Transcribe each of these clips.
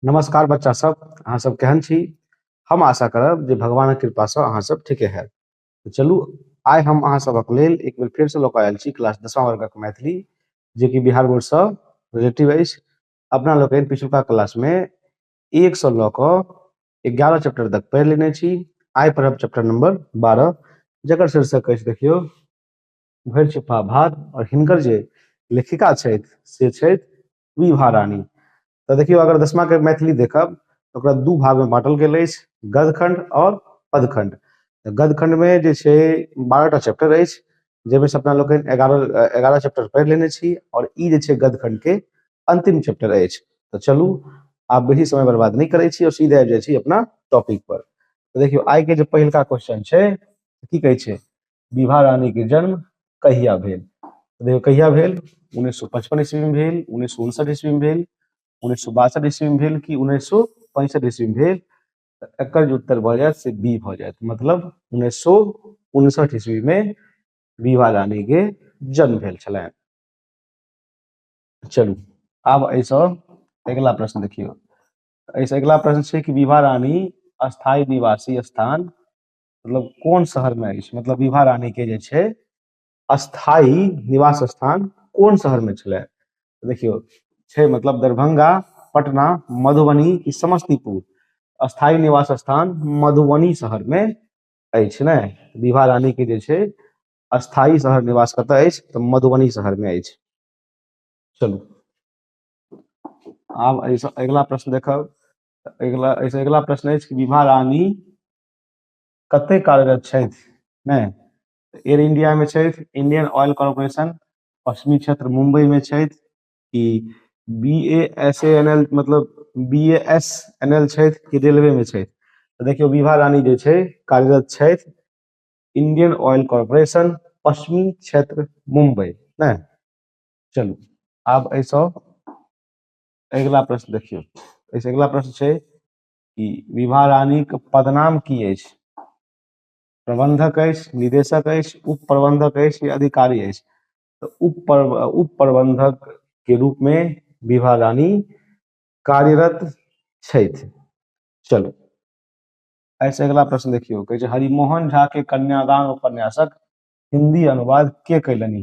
नमस्कार बच्चा सब अहाँ सब केहन छी हम आशा करब जे भगवानक कृपा से अहाँ सब ठीके है तो चलू आइ हम अहाँ सबक लेल एक बेर फेर से लऽ कऽ आयल छी क्लास दसवां वर्गक मैथिली जे कि बिहार बोर्ड से रिलेटिव अछि अपना लोकनि पिछुलका क्लास में एक से लऽ कऽ एगारह चैप्टर तक पढ़ि लेने छी आइ पढ़ब चैप्टर नंबर बारह जकर शीर्षक अछि देखियौ भरि छुपा भार आओर हिनकर जे लेखिका छथि से छथि विभा रानी तऽ देखियौ अगर दसमाके मैथिली देखब तऽ ओकरा दू भागमे बाँटल गेल अछि गदखण्ड आओर पदखण्ड तऽ गदखण्डमे जे छै बारहटा चैप्टर अछि जाहिमे से अपना लोकनि एगारह एगारह चैप्टर पढ़ि लेने छी आओर ई जे छै गदखण्डके अन्तिम चैप्टर अछि तऽ चलू आब बेसी समय बर्बाद नहि करै छी आओर सीधे आबि जाइ छी अपना टॉपिक पर तऽ देखियौ आइके जे पहिलका क्वेश्चन छै की कहै छै विभा रानी के जन्म कहिया भेल तो देखियो कहिया भेल उन्नीस सौ पचपन ईस्वी में भेल उन्नीस सौ उनसठ ईस्वी में भेल उन्नीस सौ बासठ ईस्वी में भेल कि उन्नीस सौ पैंसठ ईस्वी में भेल तो एकर जो उत्तर भऽ जायत से बी भऽ जायत मतलब उन्नीस सौ उनसठ ईस्वी में विभा रानी के जन्म भेल छलैन चलू आब एहिसँ अगिला प्रश्न देखियौ एहिसँ अगिला प्रश्न छै कि विभा रानी स्थायी निवासी स्थान मतलब कोन शहर में अछि मतलब विभा रानी के जे छै स्थायी निवास स्थान कोन शहर में छले देखियो छै मतलब दरभंगा पटना मधुबनी की समस्तीपुर स्थायी निवास स्थान मधुबनी शहर में अछि ने विभा रानी के जे छै स्थायी शहर निवास कतय अछि तऽ मधुबनी शहर में अछि चलू आब अगला प्रश्न देखब अगला अगला प्रश्न अछि विभा रानी कते कार्यरत छथि ने एयर इंडिया में छथि इंडियन ऑयल कॉरपोरेशन पश्चिमी क्षेत्र मुंबई में छथि कि B A S A N L मतलब B A S N L छथि कि रेलवे में छथि तऽ देखियौ विभा रानी जे छै कार्यरत छथि इंडियन ऑयल कॉरपोरेशन पश्चिमी क्षेत्र मुंबई ने चलू आब एहिसँ अगिला प्रश्न देखियौ एहिसँ अगिला प्रश्न छै कि विभा रानीक पदनाम की अछि प्रबंधक अछि निदेशक अछि उप प्रबंधक अछि या अधिकारी अछि तऽ उप उप प्रबंधक के रूप में विभा रानी कार्यरत छथि चलू ऐसे अगला प्रश्न देखियो कहे हरिमोहन झा के कन्यादान उपन्यासक हिंदी अनुवाद के कैलनी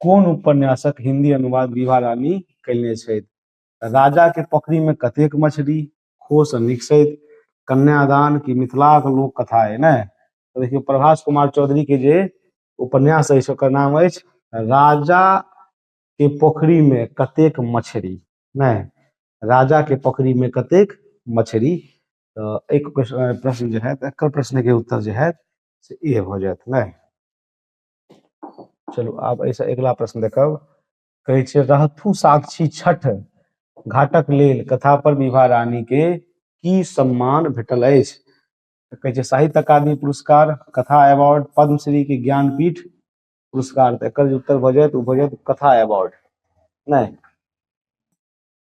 कोन उपन्यासक हिंदी अनुवाद विभा रानी कयने छथि राजाके पोखरिमे कतेक मछली खोसँ निकसथि कन्यादान की मिथिलाक लोक कथा अइ ने तऽ देखियौ प्रभास कुमार चौधरीके जे उपन्यास अछि ओकर नाम अछि राजा के पोखरी में कतेक मछरी नहि राजा के पोखरी में कतेक मछरी तऽ एक प्रश्न जे है एकर प्रश्न के उत्तर जे है से इहे भऽ जायत नहि चलू आब एहिसँ अगिला प्रश्न देखब कहै छै रहथु साक्षी छठ घाटक लेल कथा पर विभा रानी के की सम्मान भेटल अछि तऽ कहै छै साहित्य अकादमी पुरस्कार कथा अवार्ड पद्मश्री के ज्ञानपीठ पुरस्कार तऽ एकर जे उत्तर भऽ जायत ओ भऽ जायत कथा अवार्ड नहि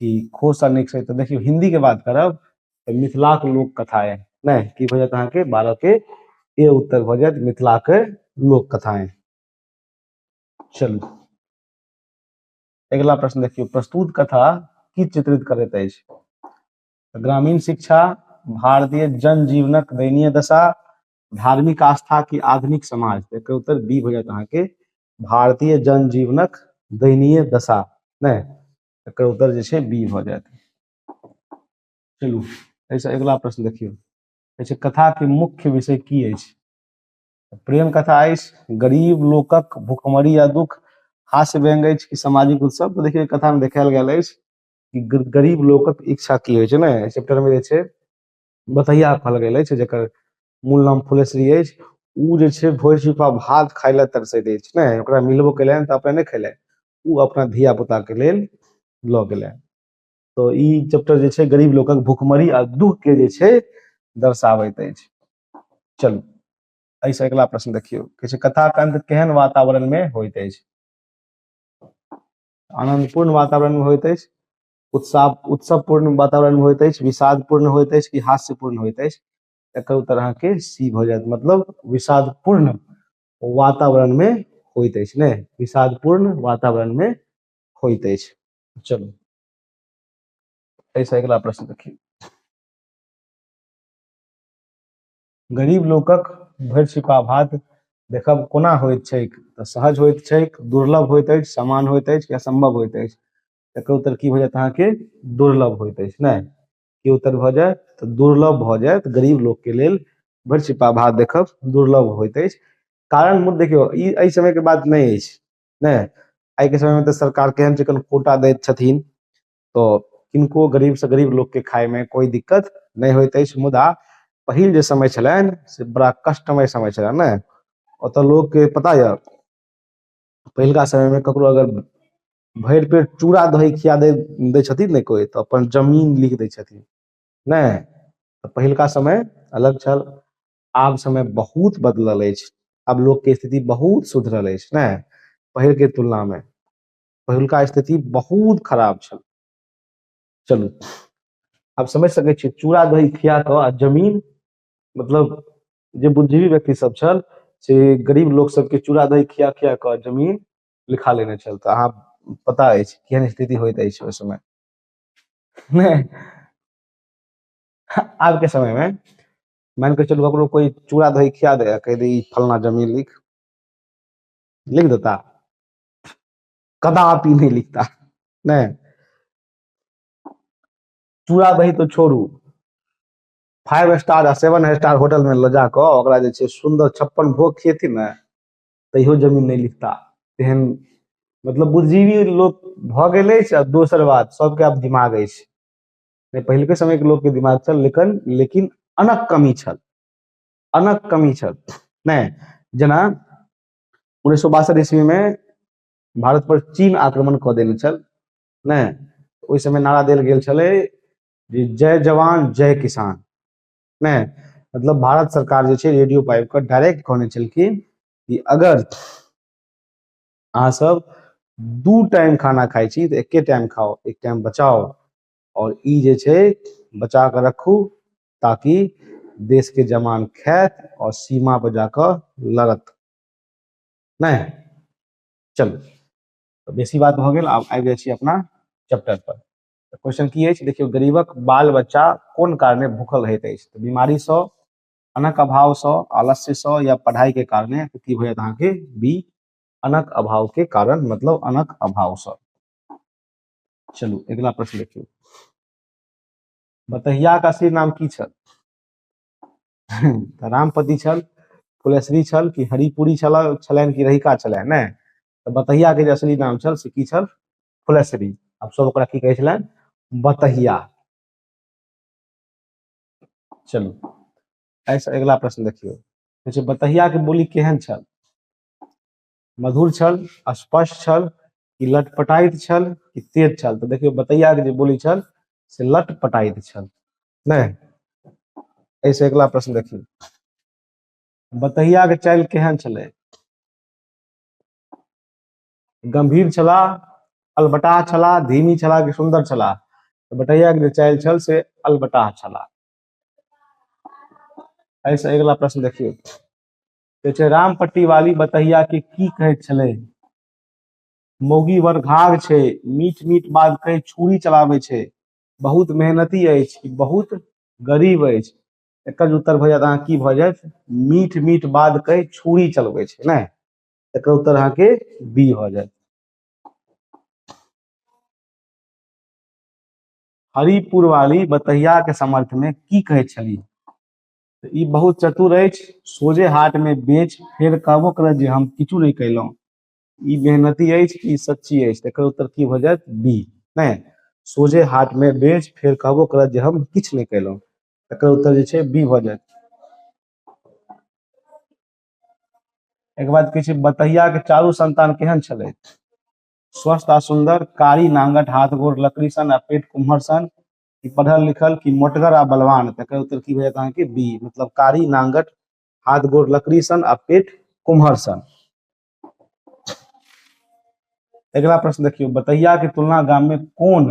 कि खोस आ नेक्स्ट तऽ देखियौ हिंदी के बात करब तऽ मिथिला के लोक कथा है नै की भऽ जायत अहाँके बारह के ए उत्तर भऽ जायत मिथिला के लोक कथा है चलू अगला प्रश्न देखियौ प्रस्तुत कथा की चित्रित करैत अछि ग्रामीण शिक्षा भारतीय जन जीवनक दयनीय दशा धार्मिक आस्था की आधुनिक समाज एकर उत्तर बी भऽ जायत अहाँके भारतीय जन जीवनक दयनीय दशा नहि एकर उत्तर जे छै बी भऽ जायत चलू एहिसँ अगिला प्रश्न देखियौ कहै छै कथाके मुख्य विषय की अछि प्रेम कथा अछि गरीब लोकक भुखमरी आ दुख हास्य व्यंग अछि कि सामाजिक उत्सव तऽ देखियौ कथामे देखायल गेल अछि कि ग- गरीब लोकक इच्छा की होइ छै ने एहि चैप्टरमे जे छै बतैया कहल गेल अछि जकर मूल नाम फुलेश्वरी अछि ओ जे छै भोज छुपा भात खाय लए तरसैत अछि ने ओकरा मिलबो केलनि तऽ अपने नहि खेलनि ओ अपना धिया पुता के लेल लऽ गेलै तो ई चैप्टर जे छै गरीब लोकक भुखमरी आ दुख के जे छै दर्शाबैत अछि चलू एहिसँ अगिला प्रश्न देखियौ कहै छै कथाक अंत केहन वातावरण में होइत अछि आनंदपूर्ण वातावरण में होइत अछि उत्साह उत्सवपूर्ण वातावरण में होइत अछि विषादपूर्ण होइत अछि कि हास्यपूर्ण होइत अछि एकर उत्तर अहाँके सी भऽ जायत मतलब विषादपूर्ण वातावरण में होइत अछि ने विषादपूर्ण वातावरण में होइत अछि चलू ऐसा अगला प्रश्न देखिए गरीब लोकक भरि छिपा भात देखब कोना होइत छैक तऽ सहज होइत छैक दुर्लभ होइत अछि समान होइत अछि या संभव होइत अछि एकर उत्तर की हो जायत अहाँके दुर्लभ होइत अछि नहि के उत्तर भऽ जाय तऽ दुर्लभ भऽ जायत गरीब लोकके लेल बड़ छिपा भात देखब दुर्लभ होइत अछि कारण मूल देखियौ ई एहि समयके बात नहि अछि नहि आइके समयमे तऽ सरकार केहन जखन कोटा दैत छथिन तऽ किनको गरीबसँ गरीब लोकके खायमे कोइ दिक्कत नहि होइत अछि मुदा पहिल जे समय छलनि से बड़ा कष्टमय समय छलनि ने ओतऽ लोकके पता यऽ पहिलका समयमे ककरो अगर भरि पेट चूड़ा दही खिया दै दै छथिन ने कोइ तऽ अपन जमीन लिख दै छथिन नहि तऽ पहिलका समय अलग छल आब समय बहुत बदलल अछि आब लोकके स्थिति बहुत सुधरल अछि ने पहिलके तुलनामे पहिलका स्थिति बहुत खराब छल चलू आब समझ सकै छियै चूड़ा दही खिया कऽ आ जमीन मतलब जे बुद्धिजीवी व्यक्ति सब छल से गरीब लोक सबके चूड़ा दही खिया खिया कऽ जमीन लिखा लेने छल तऽ अहाँ पता अछि केहन स्थिति होइत अछि ओहि समय नहि आब के समय में मान के चलू ककरो कोई चूड़ा दही खिया दे आ कह दे ई फलना जमीन लिख लिख देता कदापि नहीं लिखता नहीं चूड़ा दही तो छोड़ू फाइव स्टार आ सेवन स्टार होटल में ले जाकर ओकरा जे छै सुंदर छप्पन भोग खियेती ने तैयो जमीन नहि लिखता तेहन मतलब बुद्धिजीवी लोक भऽ गेल अछि आ दोसर बात सबके आब दिमाग अछि नहि पहिलके समयके लोकके दिमाग छल लेकिन लेकिन अनक कमी छल अनक कमी छल नहि जेना उन्नैस सए बासठ ईस्वीमे भारत पर चीन आक्रमण कऽ देने छल नहि ओहि समय नारा देल गेल छलै जे जय जवान जय किसान ने मतलब भारत सरकार जे छै रेडियो पाइप के डायरेक्ट कहने छलखिन कि अगर अहाँ सब दू टाइम खाना खाइ छी तऽ एके टाइम खाओ एक टाइम बचाओ और ई जे छै बचा के रखू ताकि देश के जवान खायत और सीमा पर जाकर लड़त ने चलू तऽ बेसी बात भऽ गेल आब आबि जाइ छी अपना चैप्टर पर तऽ क्वेश्चन की अछि देखियौ गरीबक बाल बच्चा कोन कारणे भूखल रहैत अछि तऽ बीमारीसँ अनक अभावसँ आलस्यसँ या पढ़ाइके कारणे तऽ की होयत अहाँके बी अनक अभावके कारण मतलब अनक अभावसँ चलू अगिला प्रश्न देखियौ बतहियाक असली नाम की छल तऽ रामपति छल फुलेश्वरी छल कि हरिपुरी छल छलनि कि रहिका छलनि नहि तऽ बतहिया के जे असली नाम छल से की छल फुलसरी अब सब ओकरा की कहै छलनि बतहिया चलू एहिसँ अगिला प्रश्न देखियौ कहै छै बतहियाके बोली केहन छल मधुर छल स्पष्ट छल कि लटपटाइत छल कि तेज छल तऽ देखियौ बतैयाके जे बोली छल से लटपटाइत छल नहि एहिसँ अगिला प्रश्न देखियौ बतहियाके चालि केहन छलै गंभीर छला अलबटाह छला धीमी छला कि सुंदर छला तऽ बटैया के जे चालि छल से अलबटाह छला एहिसँ अगिला प्रश्न देखियौ कहै छै रामपट्टी वाली बतहिया के की कहैत छलै मौगी वर घाघ छै मीठ मीठ बात कहि छुरी चलाबै छै बहुत मेहनती अछि कि बहुत गरीब अछि एकर जे उत्तर भऽ जायत अहाँ की भऽ जायत मीठ मीठ बात कहि छुरी चलबै छै नहि एकर उत्तर अहाँ के बी हो जाए हरिपुर वाली बतहिया के समर्थ में की कहे छली तऽ ई बहुत चतुर अछि सोझे हाट में बेच फेर कहबो करत जे हम किछु नहीं कैलहुं ई मेहनती अछि कि सच्ची अछि तऽ एकर उत्तर की हो जाए बी नहीं सोझे हाट में बेच फेर कहबो करत जे हम किछु नहीं कैलहुं एकर उत्तर जे छै बी हो जाए एक बाद कहै छै बतहिया के चारू संतान केहन छलै स्वस्थ आ सुंदर कारी नांगट हाथ गोड़ लकड़ी सन आ पेट कुम्हर सन कि पढ़ल लिखल कि मोटगर आ बलवान तकर उत्तर की भए जायत कि बी मतलब कारी नांगट हाथ गोड़ लकड़ी सन आ पेट कुम्हर सन अगला प्रश्न देखियो बतैया के तुलना गाम में कौन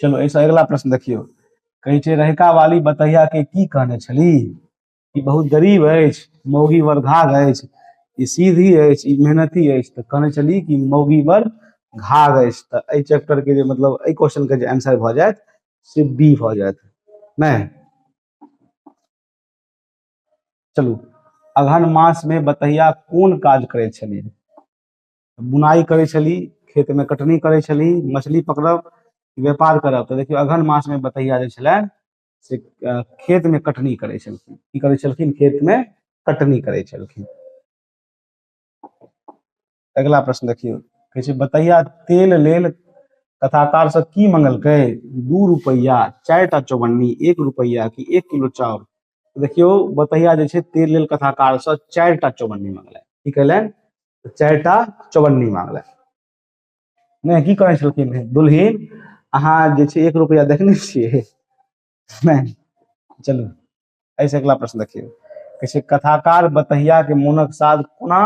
चलो ऐसा अगला प्रश्न देखियो कहे छे रहका वाली बतैया के की कहने छली ई बहुत गरीब अछि मौगी वर घाघ अछि ई सीधी अछि ई मेहनती अछि तऽ कहने छली कि मौगी वर घाघ अछि तऽ एहि चैप्टर के जे मतलब एहि क्वेश्चन के जे आंसर भऽ जायत से बी भऽ जायत नहि चलू अगहन मास में बतैया कोन काज करे छली बुनाइ करै छली खेतमे कटनी करै छली मछली पकड़ब व्यापार करब तऽ देखियौ अगहन मासमे बटैया जे छलनि से अ, खेतमे कटनी करै छलखिन की करै छलखिन खेतमे कटनी करै छलखिन अगिला प्रश्न देखियौ कहै छै बतैया तेल लेल कथाकार सब की मंगलकै दू रुपैया चारि टा चौवन्नी एक रुपैया कि एक किलो चाउर देखियो बतहिया जे छै तीर लेल कथाकार से चारि टा चौबन्नी मांगलनि की कहलनि तऽ चारि टा चौबन्नी मांगलनि नहि की कहै छलखिन हे दुल्हिन अहाँ जे छै एक रुपैआ देखने छियै नहि चलू एहिसँ अगिला प्रश्न देखियौ कहै छै कथाकार बतहिया के मोनक साध कोना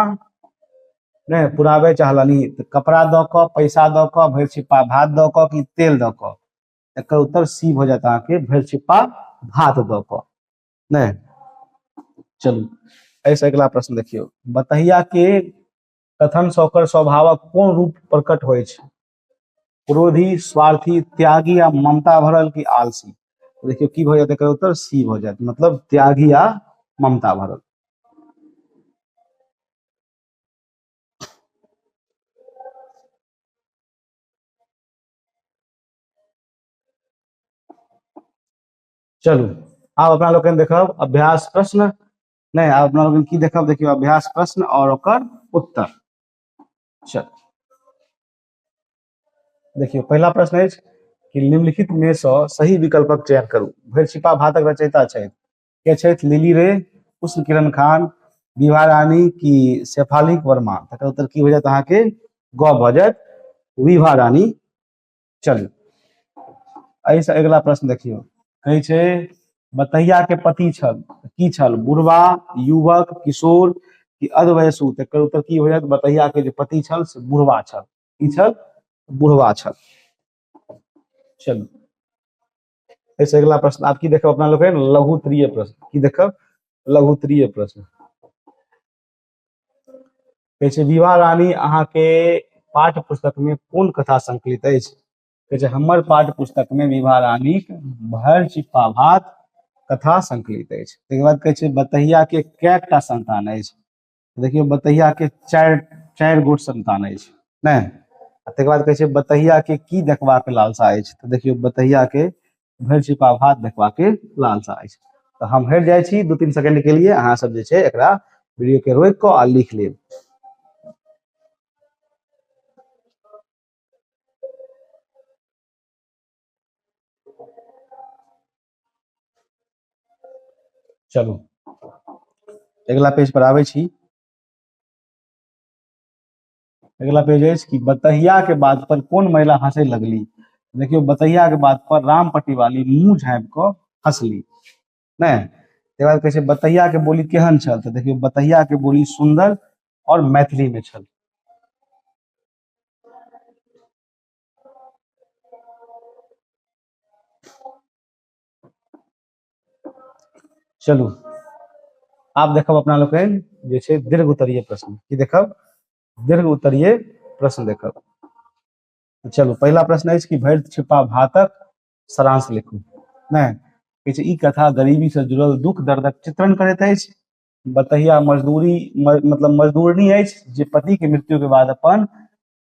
नहि पुराबे चाहलनि तऽ कपड़ा दऽ कऽ पैसा दऽ कऽ भरि छिपा भात दऽ कऽ कि तेल दऽ कऽ एकर उत्तर सी भऽ जायत अहाँके भरि छिप्पा भात दऽ कऽ नहि चलू एहिसँ अगिला प्रश्न देखियौ बतहिया के कथन से ओकर स्वभावक कोन रूप प्रकट होइ छै क्रोधी स्वार्थी त्यागी आ ममता भरल की आलसी तो देखियो की भऽ जायत एकर उत्तर सी भऽ जायत मतलब त्यागी आ ममता भरल चलू आब अपना लोकनि देखब अभ्यास प्रश्न नहीं आब अपना लोकनि की देखब देखियो अभ्यास प्रश्न और ओकर उत्तर चल देखियो पहला प्रश्न है कि निम्नलिखित में से सही विकल्पक चयन करू भरि छिपा भातक रचयिता छथि के छथि लिली रे उष्ण किरण खान विवाह रानी की शेफाली वर्मा तकर उत्तर की हो जायत अहाँके ग भऽ जायत विभा रानी चलिए एहि से अगिला प्रश्न देखियो कहे छे बतैया के पति छल की छल बुढ़वा युवक किशोर कि अधवयसु तकर उत्तर की होयत बतैया के जे पति छल से बुढ़वा छल की छल बुढ़वा छल चलू ऐसे अगला प्रश्न आप की देखब अपना लोग लघुत्तरीय प्रश्न की देखब लघुत्तरीय प्रश्न कहै छै विवाह रानी अहाँके पाठ पुस्तकमे कोन कथा संकलित अछि कहै छै हमर पाठ पुस्तकमे विवाह रानीक भर चिप्पा भात कथा संकलित अछि ताहिके बाद कहै छै बतहियाके कैटा संतान अछि देखियौ बतहियाके चारि चारि गोट संतान अछि नहि आ ताहिके बाद कहै छै बतहियाके की देखबाक लालसा अछि तऽ देखियौ बतहियाके भरि छिपा भात देखबा के लालसा अछि तऽ हम हटि जाइ छी दू तीन सेकंड के लिए अहाँ सब जे छै एकरा वीडियो के रोकि कऽ आ लिख लेब चलू अगिला पेज पर आबै छी अगला पेज अछि कि बतहिया के बात पर कोन महिला हंसे लगली देखियो बतहिया के बात पर राम पटिवाली मुंह झाँपि कऽ हंसली नहि तकर बाद कहै छै बतहिया के बोली केहन छल तऽ देखियो बतहिया के बोली सुंदर और मैथिली में छल चलू आब देखब अपना लोकनि जे छै दीर्घ उत्तरीय प्रश्न की देखब दीर्घ उत्तरीय प्रश्न देखब चलू पहिला प्रश्न अछि कि भरि छिपा भातक सारांश लिखू नहि कहै छै ई कथा गरीबी से जुड़ल दुख दर्दक चित्रण करैत अछि बतहिया मजदूरी म, मतलब मजदूरनी अछि जे पति के मृत्यु के बाद अपन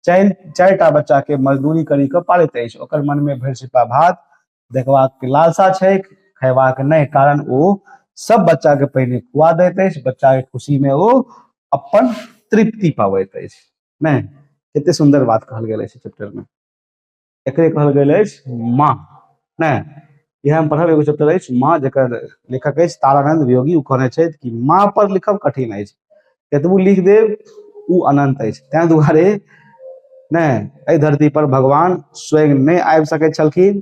चारि चारि टा बच्चा के मजदूरी करी के पालैत अछि ओकर मन में भरि सिपा भात देखबाक के लालसा छै खयबाक नहि कारण ओ सब बच्चा के पहिने खुआ दैत अछि बच्चा के खुशी में ओ अपन तृप्ति पाबैत अछि नहि कते सुंदर बात कहल गेल अछि चैप्टर में एकरे कहल गेल अछि माँ ने इएह हम पढ़ब एगो चैप्टर अछि माँ जकर लेखक अछि तारानंद वियोगी ओ कहने छथि कि माँ पर लिखब कठिन अछि कतबू लिख देब ओ अनंत अछि ताहि दुआरे ने एहि धरती पर भगवान स्वयं नहि आबि सकैत छलखिन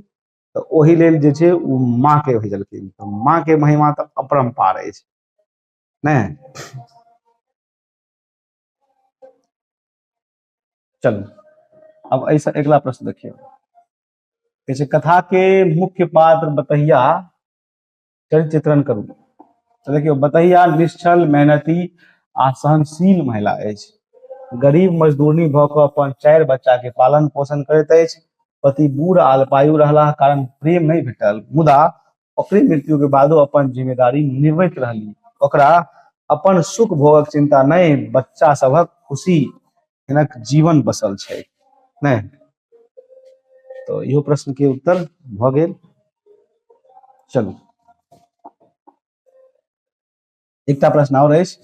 तऽ ओहि लेल जे छै ओ माँ के भेजलखिन तऽ माँ के महिमा तऽ अपरम्पार अछि ने चलू अब ऐसा अगला प्रश्न देखिए जैसे कथा के मुख्य पात्र बतहिया चरित्र चित्रण करू तो देखियो बतहिया निश्चल मेहनती आ सहनशील महिला अछि गरीब मजदूरनी भऽ कऽ अपन चारि बच्चा के पालन पोषण करैत अछि पति बूढ़ आ अल्पायु रहलाह कारण प्रेम नहि भेटल मुदा ओकरे मृत्यु के बादो अपन जिम्मेदारी निभैत रहली ओकरा अपन सुख भोगक चिंता नहि बच्चा सभक खुशी हिनक जीवन बसल छै नहि तो इहो प्रश्न के उत्तर भ गेल चलू एकटा प्रश्न और अछि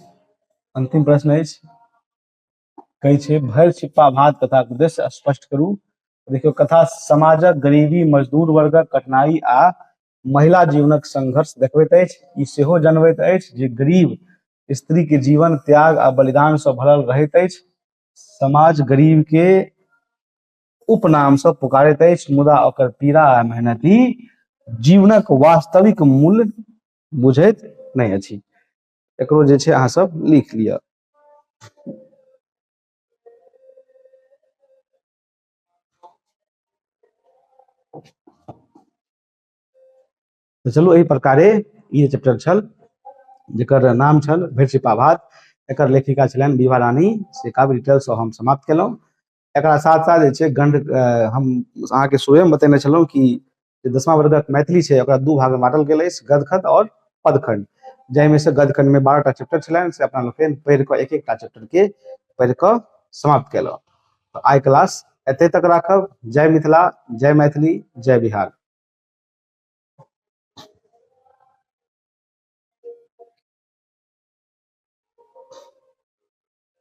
अंतिम प्रश्न अछि कहै छै भरि छिप्पा भात कथाक उद्देश्य स्पष्ट करू देखियौ कथा समाजक गरीबी मजदूर वर्गक कठिनाई आ महिला जीवनक संघर्ष देखबैत अछि ई सेहो जनबैत अछि जे गरीब स्त्रीके जीवन त्याग आ बलिदानसँ भरल रहैत अछि समाज गरीबके उपनामसँ पुकारैत अछि मुदा ओकर पीड़ा आ मेहनती जीवनक वास्तविक मूल्य बुझैत नहि अछि एकरो जे छै अहाँ सब लिख लिअ तऽ चलू एहि प्रकारे ई जे चैप्टर छल जकर नाम छल भैरसिपा भात एकर लेखिका छलनि विभा रानी से काव्य डिटेलसँ हम समाप्त केलहुँ एकरा साथ साथ जे छै गंड हम अहाँके स्वयं बतेने छलहुँ कि जे दसमा वर्गक मैथिली छै ओकरा दू भागमे बाँटल गेल अछि गदखंड आओर पदखंड जाहिमे से गदखंडमे बारहटा चैप्टर छलनि से अपना लोकनि पढ़ि कऽ एक एकटा चैप्टरके पढ़ि कऽ समाप्त केलहुँ तऽ आइ क्लास एते तक राखब जय मिथिला जय मैथिली जय बिहार